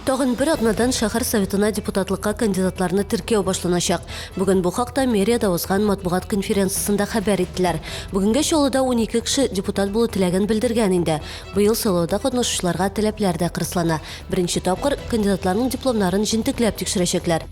Тагын бер атнадан шәһәр советына депутатлыкка кандидатларны теркәү башланачак. Бүген бу хакта мэриядә узган матбугат конференциясендә хәбәр иттеләр. Бүгенге чалуда 12 кеше депутат булу теләген белдергән инде. Быел сайлауда катнашучыларга таләпләр дә кырыслана. Беренче тапкыр кандидатларның дипломнарын җентекләп тикшерәчәкләр.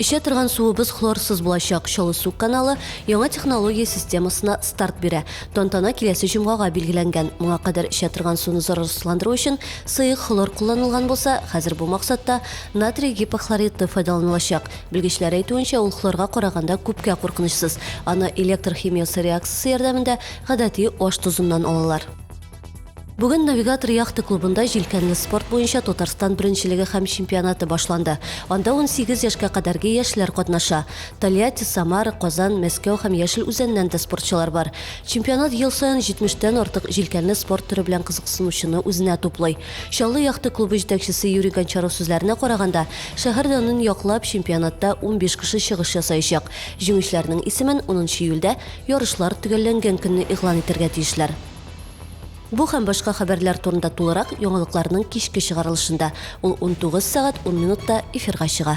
Эчә торган суыбыз хлорсыз булачак. Чаллы су каналы яңа технология системасына старт бирә. Тантана киләсе җомгага билгеләнгән. Моңа кадәр эчә торган суны зарарсызландыру өчен сыек хлор кулланылган булса, хәзер бу максатта натрий гипохлориты файдаланылачак. Белгечләр әйтүенчә, ул хлорга караганда күпкә куркынычсыз. Аны электр химиясе реакциясе ярдәмендә гадәти аш тозыннан алалар. Бүген Навигатор яхта клубында җилкәнле спорт буенча Татарстан беренчелеге һәм чемпионаты башланды. Анда 18 яшькә кадәрге яшьләр катнаша. Тольятти, Самара, Казан, Мәскәү һәм Яшел Үзәннән дә спортчылар бар. Чемпионат ел саен 70 тән артык җилкәнле спорт төре белән кызыксынучыны үзенә туплый. Чаллы яхта клубы җитәкчесе Юрий Гончаров сүзләренә караганда, шәһәр данын яклап, чемпионатта 15 кеше чыгыш ясаячак. Җиңүчеләрнең исемен унынчы июльдә, ярышлар төгәлләнгән көнне игълан итәргә тиешләр. Бу һәм башка хәбәрләр турында тулырак яңалыкларның кичке чыгарылышында, ул 19 сәгать 10 минутта эфирга чыга.